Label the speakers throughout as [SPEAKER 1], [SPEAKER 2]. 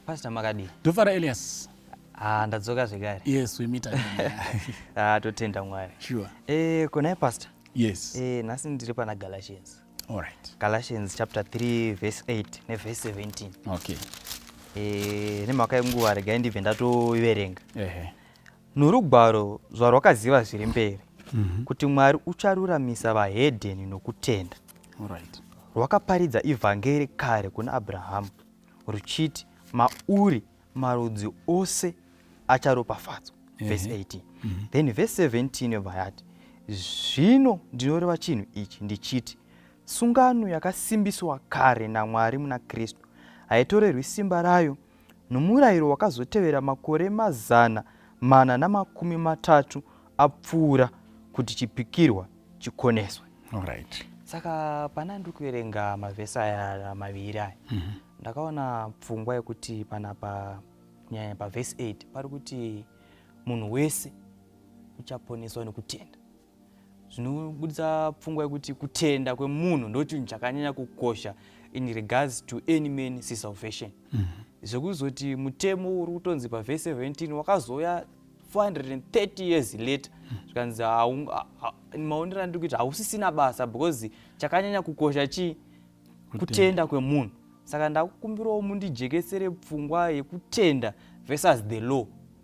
[SPEAKER 1] Pastor Makadi. Dofara Elias.
[SPEAKER 2] Ah, ndadzoka
[SPEAKER 1] zvekare. Yes, we meet
[SPEAKER 2] again. ah, totenda Mwari.
[SPEAKER 1] Sure. Eh, kuna
[SPEAKER 2] pastor?
[SPEAKER 1] Yes. Eh, nasi
[SPEAKER 2] ndiri pana
[SPEAKER 1] Galatians. All right.
[SPEAKER 2] Galatians chapter 3
[SPEAKER 1] verse 8 ne verse 17. Okay.
[SPEAKER 2] Eh,
[SPEAKER 1] nemhaka yenguva regai ndibve ndatoiverenga. Ehe.
[SPEAKER 2] Norugwaro zvarwakaziva
[SPEAKER 1] zviri mberi mhm. kuti Mwari ucharuramisa vahedheni nokutenda.
[SPEAKER 2] Rwakaparidza
[SPEAKER 1] ivhangeri kare kuna Abrahamu ruchiti mauri marudzi ose acharopafadzwa. Verse 18. Mhm. Then verse 17 yobva yati zvino ndinoreva chinhu ichi ndichiti sungano yakasimbiswa kare naMwari muna Kristu haitorerwi simba rayo nomurayiro wakazotevera makore mazana mana namakumi matatu apfuura kuti chipikirwa chikoneswe right.
[SPEAKER 2] saka pana
[SPEAKER 1] ndiri kuverenga mavhesi aya maviri aya mm -hmm. ndakaona pfungwa yekuti panapa nyaya pavhesi 8 pari kuti munhu wese uchaponeswa nekutenda zvinobudisa pfungwa yekuti kutenda kwemunhu ndochinhu chakanyanya kukosha in regards to any man si salvation mm -hmm. zvekuzoti mutemo uri kutonzi pavhese 17 wakazouya 430 years later zvikanzi maonero andiri kuita hausisina basa because chakanyanya kukosha chii kutenda kwemunhu saka ndakukumbirawo mundijekesere pfungwa yekutenda versus the law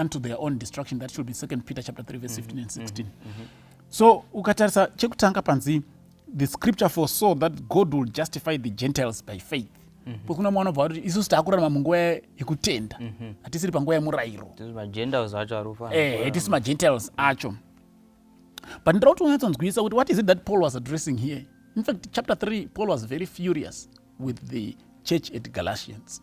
[SPEAKER 2] unto their own destruction that should be second peter chapter 3 verse 15 and 16 mm-hmm. mm-hmm. so ukatarisa chekutanga panzi the scripture foresaw that god will justify the gentiles by faith mm-hmm. pokuna mwana obva kuti isusu taakurarama munguva yekutenda hatisiri panguva yemurayiro hatisi magentiles acho but ndira kuti unyatsonzwisisa kuti what is it that paul was addressing here in fact chapter 3 paul was very furious with the church at galatians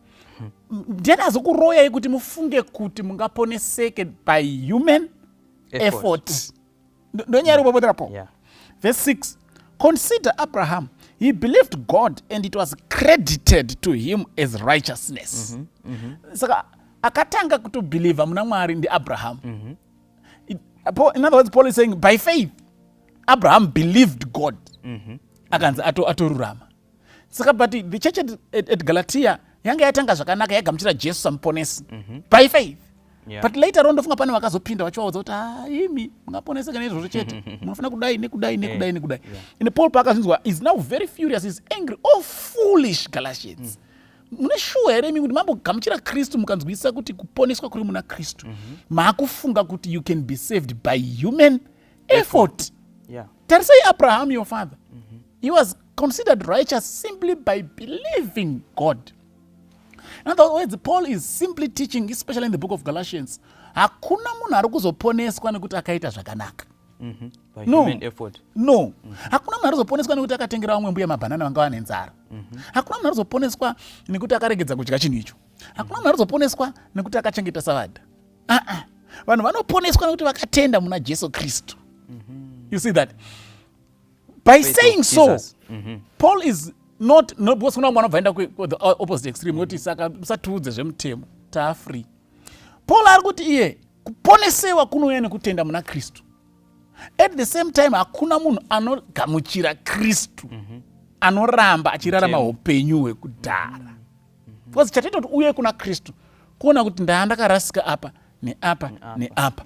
[SPEAKER 2] ndiani azokuroyai kuti mufunge kuti mungaponeseke by human effort ndonyari ubobotapo yeah. verse 6 consider abraham he believed god and it was credited to him as righteousness mm -hmm. Mm -hmm. saka akatanga kutobhilivha muna mwari ndiabraham mm -hmm. in other words paul is saying by faith abraham believed god mm -hmm. akanzi atorurama ato saka but the church at, at, at galatia yanga yatanga zvakanaka yaigamuchira jesu samuponesi mm -hmm. by faith Yeah. but later on ndofunga pane vakazopinda vachivaudza kuti ah, imi mungaponeseka neizvozvo chete munofanira kudai nekudai nekudai nekudai yeah. and paul paakazvinzwa is now very furious is angry all oh, foolish galatians mm. mune shuwa here imi kuti mambogamuchira kristu mukanzwisisa kuti kuponeswa kuri muna kristu mm-hmm. maakufunga mm -hmm. kuti you can be saved by human effort, effort. Yeah. tarisai abraham your father mm -hmm. he was considered righteous simply by believing God. In other words, Paul is simply teaching, especially in the book of Galatians, hakuna munhu ari kuzoponeswa nekuti akaita zvakanaka. Mm-hmm. No.
[SPEAKER 1] no. Mm-hmm. hakuna
[SPEAKER 2] munhu arizoponeswa nekuti akatengera vamwe mbuya mabhanana vanga vane nzara mm-hmm. hakuna munhu arizoponeswa nekuti akaregedza kudya chinhu icho hakuna munhu arizoponeswa nekuti akachengeta savadha aa vanhu vanoponeswa nekuti vakatenda muna jesu kristu you see that by Faith saying so mm -hmm. paul
[SPEAKER 1] is
[SPEAKER 2] not no, because kuna mwana bvaenda the uh, opposite extreme woti mm -hmm. saka musatiudze zvemutemo taafree paul ari kuti iye kuponesewa kunouya nekutenda muna kristu at the same time hakuna munhu anogamuchira kristu mm -hmm. anoramba achirarama upenyu hwekudhara because chataita kuti uye kuna kristu kuona kuti ndaa ndakarasika apa neapa neapa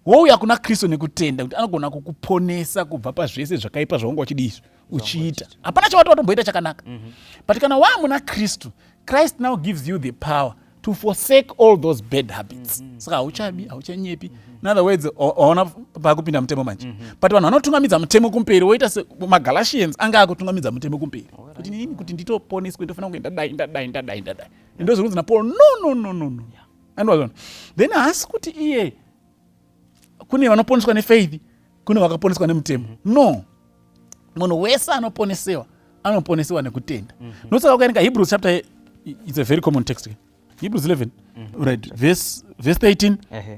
[SPEAKER 2] wouya kuna kristu nekutenda kuti anogona kukuponesa kubva pazvese zvakaipa zvaunga uchidi izvi uchiita hapana chavati watomboita chakanaka mhm. but kana waa muna kristu christ now gives you the power to forsake all those bad habits mhm. saka hauchabi hauchanyepi in other words waona pakupinda mutemo manje mhm. but vanhu vanotungamidza mutemo kumberi woita semagalatians anga akutungamidza mutemo kumberi kuti nini kuti nditoponeswe ndofana kunge ndadai ndadai ndadai ndadai ndozvinonzi napaul no no no no no andiwazona then haasi kuti iye kune vanoponeswa nefaith kune vakaponeswa nemutemo no munhu wese anoponesewa anoponesewa nekutenda mm -hmm. nosaka ukaerenga hebrews chapter it's a very common text hebrews 11 mm -hmm. right verse, verse 13 uh -huh.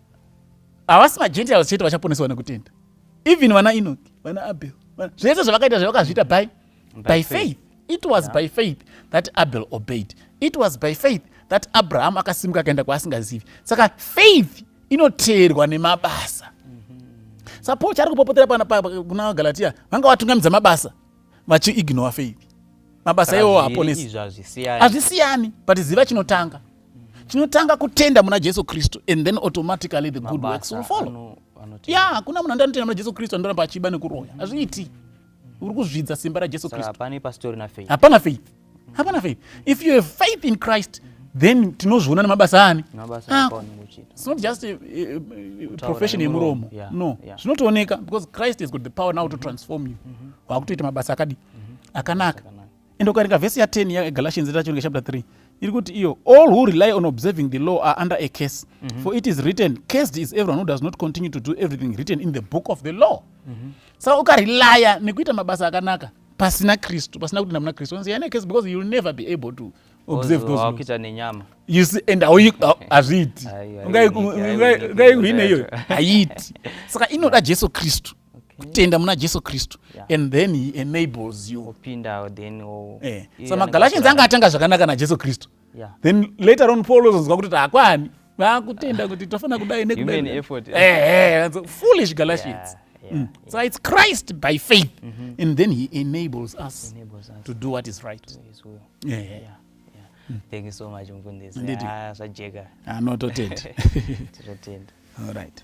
[SPEAKER 2] havasi magentiles chete vachaponeswa nekutenda even vana enoki vana abel zvese zvavakaita zvavakazviita by, by faith it was yeah. by faith that abel obeyed it was by faith that abraham akasimuka akaenda kwaasingazivi saka faith inoteerwa nemabasa mm-hmm. sa paul chaari kupopotera kuna vagalatia vanga vatungamidza mabasa vachiignore faith mabasa iwo haaponesi hazvisiyani but ziva chinotanga tinotanga kutenda muna jesu kristu and then automatically the good works will follow ya hakuna munhu andanotenda muna jesu kristu anoramba achiba nekuroya hazviiti uri kuzvidza simba rajesu kristupana faith hapana faith if you have faith in christ then tinozviona nemabasa ani ah, its not just eh, eh, profession yemuromo no zvinotooneka because christ has got the power now to transform you mm-hmm. wakutoita mabasa akadii mm-hmm. akanaka and ukaringa vhesi ya 10 yagalatians itacho ringa chapter 3 iri kuti iyo all who rely on observing the law are under a case mm -hmm. for it is written cased is everyone who does not continue to do everything written in the book of the law mm -hmm. saka ukarelya nekuita mabasa akanaka pasina kristu pasina kutenda muna kristu onzi yana case because youll never be able to observe those wakuita nenyama you see and hazviiti ungaikuhine iyoyo haiiti saka inoda jesu kristu kutenda muna jesu kristu yeah. and then he enables you opindawo then oh. eh. so magalatians anga atanga zvakanaka najesu kristu yeah. then later on paul ozonzwa kuti taakwani vakutenda kuti tofanira kudai nekudafoolish eh, eh, galatians yeah. Yeah, mm. yeah. So it's Christ by faith, mm -hmm. and then He enables us, enables us to do what is right. To his will. Yeah, yeah. yeah.
[SPEAKER 1] Mm. Thank you so much, Mkundisi. Ndidi.
[SPEAKER 2] Ah,
[SPEAKER 1] sajega.
[SPEAKER 2] Ah,
[SPEAKER 1] no, totenda.
[SPEAKER 2] totenda.
[SPEAKER 1] All
[SPEAKER 2] right.